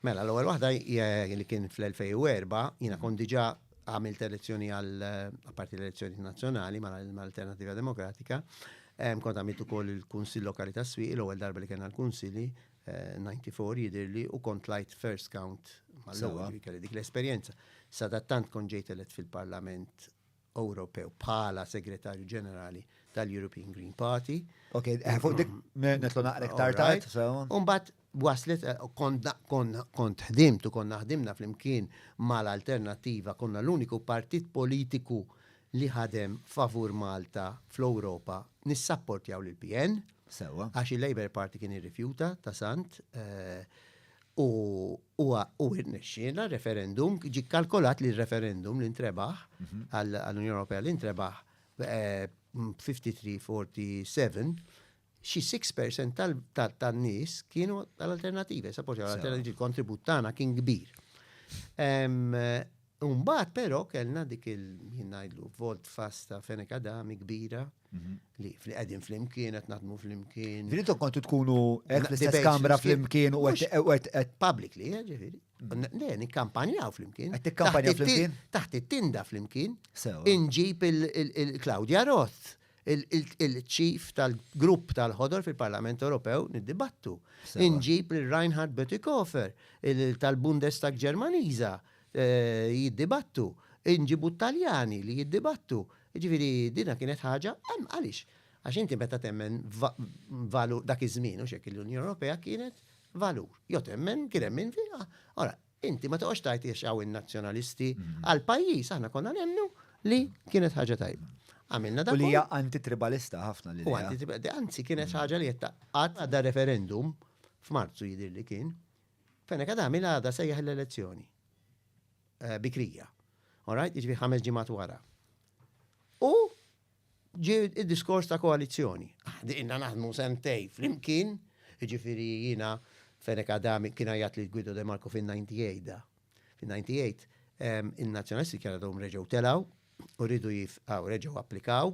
Mela, l-ewwel waħda hija li kien fl-2004, jiena kont diġà għamilt elezzjoni għal apparti l-elezzjoni nazzjonali mal-Alternattiva Demokratika, kont għamilt ukoll il-Kunsill Lokali tas-Swieq, l-ewwel darba li kellna l-Kunsilli, 94 eh, jidhirli, u kont lajt first count mal-ewwel kelli dik l-esperjenza. Sadattant kont ġejt elett fil-Parlament Ewropew bħala Segretarju Ġenerali tal-European Green Party. Ok, eh, fuq dik netlu naqra iktar tajt. Umbat waslet eh, kont ħdimt u konna ħdimna flimkien mal-alternattiva konna l-uniku partit politiku li ħadem favur Malta fl-Ewropa nissapportjaw l-PN. Sewa. Għax il-Labour Party kien irrifjuta ta' sant. Eh, U huwa u rnexxiela referendum, ġie kkalkolat li r-referendum li ntrebaħ għall-Unjoni Ewropea li ntrebaħ b'53-47 xi 6% tal- ta- tan-nies kienu tal-alternattiva, sa poġġa Sewa. l-alternattiva, il-kontribut tagħna kien kbir. Em, U mbagħad però kellna dik il ngħidlu volt fast ta' Fenek Adami kbira mhm. li fli qegħdin flimkien qed naħdmu flimkien. Dritu kontu tkunu qed l-istess kamra flimkien u qed publicly, eh, ġifieri. Mhm. Le, nikkampanjaw flimkien. Qed tikkampanjaw flimkien? Taħt it-tinda flimkien. Inġib il-Claudia Roth il-ċif tal-grupp tal-ħodor fil-Parlament Ewropew niddibattu. Inġib l-Reinhard Bötikofer tal-Bundestag Ġermaniza jiddibattu, inġibu t-Taljani li jiddibattu. Jiġifieri dinha kienet ħaġa, hemm għaliex? Għax inti meta temmen valur dak iż-żmien hux hekk l-Unjoni Ewropea kienet valur. Jo temmen kien hemm min fiha. Ora, inti ma toqgħodx tgħid jiex hawn in-nazzjonalisti għal pajjiż aħna konna nemmnu li kienet ħaġa tajba. Għamilna dak. U li hija antitribalista ħafna li. U antitribalista, anzi kienet ħaġa li qed taqgħad għadha referendum f'Marzu jidhirli kien Fenech Adami l-għada sejjaħ l-elezzjoni bikrija. All right? Jiġifieri ħames ġimgħat wara. U ġie id-diskors ta' koalizzjoni. Għadina ah, naħdmu sentej flimkien, jiġifieri jiena Fenech Adami kien għajat li Guido De Marco fin-98 da. Fin-98 il-nazzjonalisti kien għadhom reġgħu telaw u rridu jifqaw, reġgħu applikaw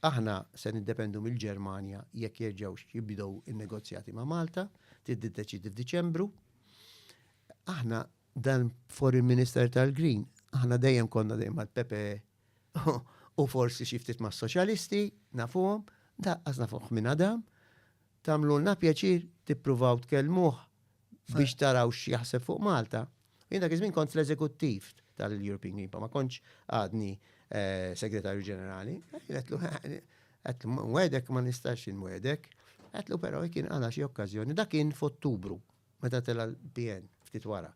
Aħna se niddependu mill-Ġermanja jekk jerġgħux jibdew in-negozjati ma' Malta, trid tiddeċiedi f'Diċembru. Aħna dan Foreign Minister tal-Green, aħna dejjem konna dejjem mal-PPE u forsi xi ftit mas-Soċjalisti, nafuhom, daqqas nafuh minn Adam, Tagħmlulna pjaċir tippruvaw tkellmuh biex taraw x'jaħseb fuq Malta. Jien dak iż-żmien kont fl-eżekuttiv tal-European Green Party, ma kontx għadni Segretarju Ġenerali. Għedtlu, għedtlu, nwedek ma nistax nwedek. Għedtlu però jekk inqala xi okkażjoni, dak kien f'Ottubru meta tela l-PN ftit wara.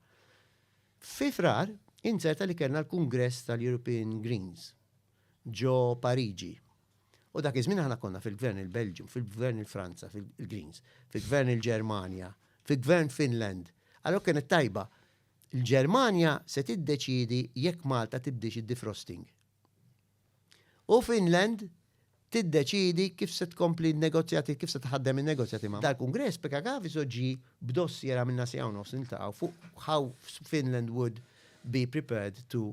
Fi frar, inzerta li kellna l-Kungress tal-European Greens ġo Pariġi. U dak iż-żmien aħna konna fil-Gvern il-Belġju, fil-Gvern il-Franza, fil-Greens, fil-Gvern il-Ġermanja, fil-Gvern Finland. Allora kienet tajba. Il-Ġermanja se tiddeċiedi jekk Malta tibdix id-defrosting. U Finland tiddeċiedi kif se tkompli negozjati, kif se tħaddem il-negozjati ma' dal-Kongress, peka għavi soġġi b'dossier għamilna si għaw nofs niltaqaw fuq how Finland would be prepared to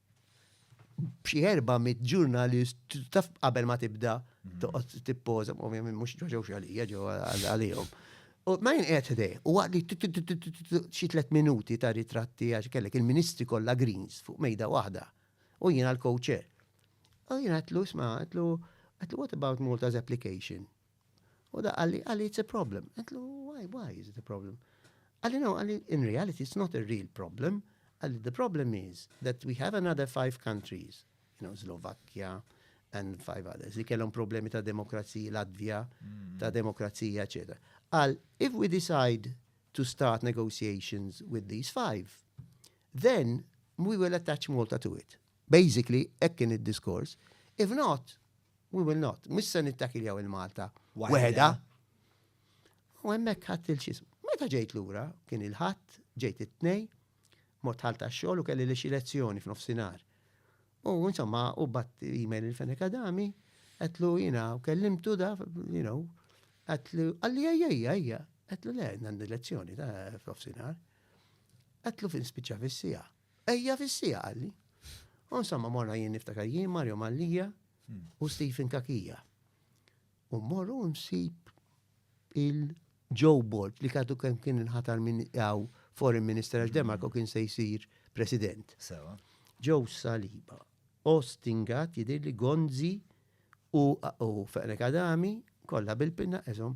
b'xi erba' mit ġurnalist taf qabel ma tibda toqgħod tippoża, ovvjament mhux ġewx għalija ġew għalihom. U ma jien qed ħdej, u għadli xi tliet minuti ta' ritratti għax kellek il-ministri kollha greens fuq mejda waħda. U jiena l-co-chair. U jiena għatlu isma' għatlu what about Malta's application? U da għalli, għalli it's a problem. Għetlu, why, why is it a problem? Għalli no, għalli in reality it's not a real problem. Għalli the problem is that we have another five countries, you know, Slovakia and five others, li kellhom problemi ta' demokrazija, Latvija, mm. ta' demokrazija, etc. Għal, if we decide to start negotiations with these five, then we will attach Malta to it. Basically hekk kien id-diskors. If not, we will not. Mhux se nittakiljaw il-Malta waħedha. U hemmhekk ħadd il-xism. Meta ġejt lura, kien il-ħadd, ġejt it-tnej, mort ħal tax-xogħol u kelli li xi lezzjoni f'nofsinhar. U insomma, u bat email il-Fenek Adami, għetlu jina, u kellimtu da, you know, għetlu, għalli għajja, għajja, għetlu le, għandi lezzjoni ta' f'nofsinhar. Għetlu fin spiċċa fis-sija. Ejja fis-sija qalli. U insomma morna jien niftakar jien Mario Mallija hmm. u Stephen Kakija. U morru nsib il-Joe Bolt li kadu kemm kien inħatar minn għaw foreign minister għax Demarco hmm. kien se jsir president. Sewa. Joe Saliba. Ostingat jidir li Gonzi u feqnek Adami kollha bil-pinna eżom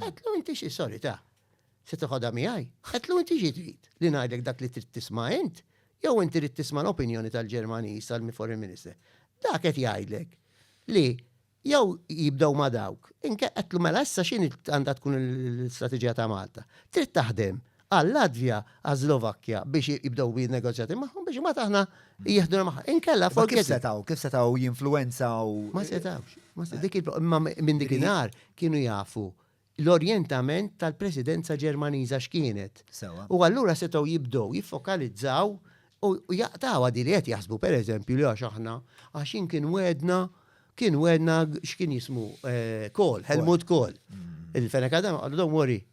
Għedlu inti xi sorry ta' se toħodha miegħi? Għedlu inti xi trid? Li ngħidlek dak li trid tisma' int? Jew inti rrid tisma' l-opinjoni tal-Ġermaniż tal-Foreign Minister? Dak qed jgħidlek li jew jibdew ma' dawk, inkella għedlu mela issa x'inhi għandha tkun l-istrateġija ta' Malta? Trid taħdem għal-Latvja, għas-Slovakkja biex jibdew bin-negozjati magħhom biex imbagħad aħna jieħduna magħha. Inkella forget it. Kif setgħu? Kif setgħu jinfluwenzaw? Ma setgħux. Imma minn dik in-nar kienu jafu l-orjentament tal-Presidenza Ġermaniża x'kienet. U allura setgħu jibdew jiffokalizzaw u jaqtgħuha din li qed jaħsbu pereżempju li għax aħna għax jien kien wegħedna kien wegħedna x'kien jismu Kohl, Helmut Kohl. Il-feneka dan qalu don't worry,